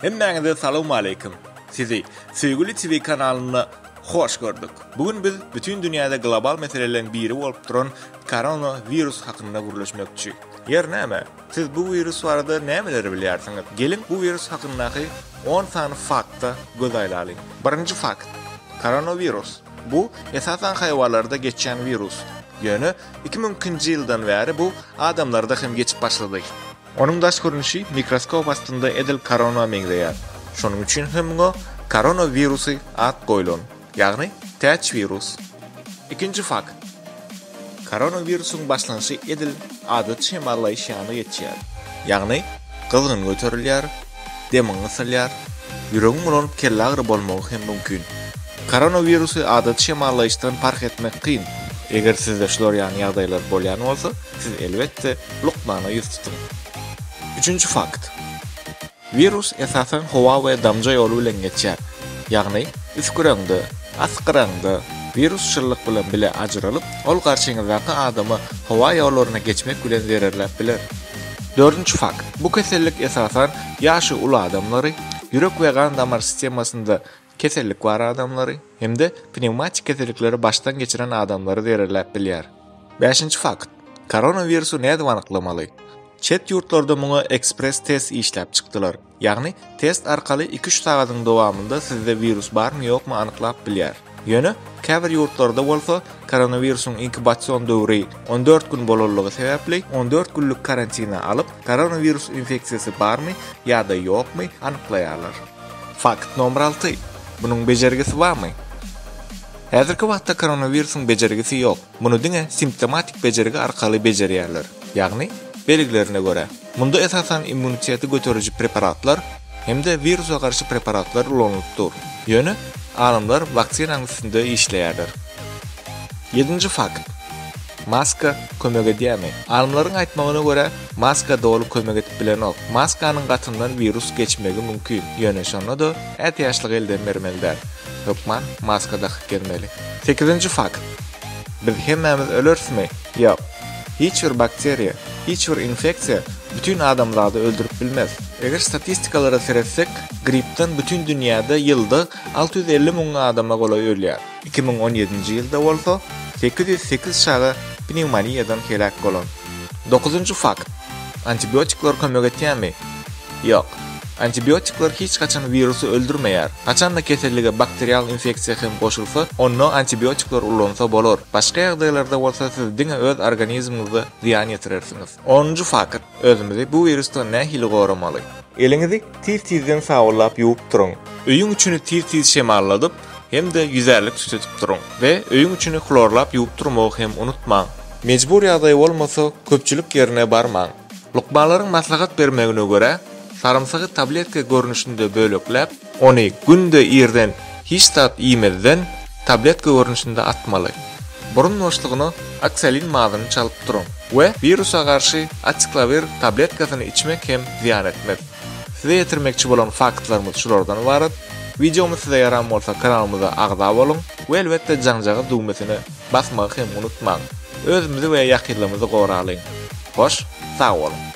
Hemmäňize salawmaleýkim. Sizi Söýgüli TV kanalynda hoş gördük. Bu gün biz bütin dünýäde global meseleleriň biri bolup duran Korona wirus hakynda gürleşmekçi. Ýer näme? Siz bu wirus barada nämeleri bilýärsiňiz? Geliň bu wirus hakyndaky on sany fakta göz aýlalyň. Birinji fakt. Korona wirus. Bu esasan haýwalarda geçýän wirus. Ýöne iki müňkinji ýyldan bäri bu adamlarda hem geçip başlady. Onuň daş görnüşi mikroskop astynda edil korona meňzeýär. Şonuň üçin hem muňa korona wirusy at goýlan, ýagny täç wirus. Ikinji fakt. Korona wirusyň başlanşy edil adaty şemallaýyş ýaly geçýär. Ýagny gyzgyn göterilýär, demiň gysylýar, ýüregiň bulanyp kellagyry bolmagy hem mümkin. Koronawirusy adaty şemallaýyşdan parh etmek kyn. Eger sizde şular ýaly ýagdaýlar bolýan bolsa, siz elbetde, lukmana ýüz tutuň. Üçünji fakt. Wirus esasan howa we damja ýoly bilen geçýär. Ýagny, üsgüreňde, asgyraňda, wirus şyllyk bilen bile ajyralyp, ol garşyňyzdaky adama howa ýollaryna geçmek bilen zererläp biler. Dördünji fakt, bu kesellik esasan ýaşy uly adamlary, ýürek we gan-damar sistemasynda kesellik bar adamlary hem-de pnewmatik kesellikleri başdan geçiren adamlary zererläp bilýär. Bäşinji fakt, koronawirusy nädip anyklamaly? Çet ýurtlarda muňa ekspress-test işläp çykdylar. Ýagny, test arkaly iki-üç sagadyň dowamynda sizde wirus barmy-ýokmy anyklap bilýär. Ýöne, käbir ýurtlarda bolsa, koronawirusyň inkubasion döwri on dört gün bolanlygy sebäpli, on dört günlük karantina alyp, koronawirus infeksiýasy barmy ýa-da ýokmy anyklaýarlar. Fakt nomer alty, Munuň bejergisi barmy? Häzirki wagtda koronawirusyň bejergisi ýok. muny diňe simptomatik bejergi arkaly bejerýärler, ýagny belgilerine görä. Munda esasan immuniteti göteriji preparatlar hem-de wirusa garşy preparatlar ulanylyp dur. Ýöne alymlar waksinanyň üstünde işleýärler. Ýedinji fakt. Maska kömek edýärmi? Alymlaryň aýtmagyna görä, maska doly kömek edip bilenok. Maskanyň gatyndan wirus geçmegi mümkin, ýöne şonda-da ätiýaçlygy elden bermeli däl. Hökman maska dakyp gezmeli. Sekizinji fakt. Biz hemmämiz ölerismi? Ýok. Hiç bir bakteriýa, hiç bir infeksiýa bütin adamzady öldürip bilmez. Eger statistikalara seretsek, gripden bütin dünýäde ýylda alty ýüz elli müň adama golaý ölýär. Iki müň on ýedinji ýylda bolsa, sekiz ýüz sekiz çaga pnewmoniýadan heläk bolan. Dokuzynjy fakt. Antibiotikler kömek etýärmi? Ýok. Antibiotikler hiç haçan wirusy öldürmeýär. Haçanda kesellige bakterial infeksiýa hem goşulsa, onda antibiotikler ulansa bolar. Başga ýagdaýlarda bolsa siz diňe öz organizmiňize zyýan ýetirersiňiz. Onunjy fakt, özümizi bu wirusdan nähili goramaly? Eliňizi tiz-tizden sabynlap ýuwup duruň. Öýüň içini tiz-tiz şemalladyp hem-de ýüzärlik tütetip duruň we öýüň içini hlorlap ýuwup durmagy hem unutmaň. Mejbur ýagdaý bolmasa, köpçülik ýerine barmaň. Lukmanlaryň maslahat bermegine görä, sarymsagy tabletka görnüşinde bölekläp, ony günde irden hiç zat iýmezden tabletka görnüşinde atmaly. Burun boşlugyna oksalin mazyny çalyp duruň we wirusa garşy aciklawir tabletkasyny içmek hem zyýan etmez. Size ýetirmekçi bolan faktlarymyz şulardan ybarat. Wideomyz size ýaran bolsa kanalymyza agza boluň we elbetde jaňjagyz düwmesine basmagy hem unutmaň. Özümizi we ýakynlarymyzy goralyň. Hoş, sag boluň!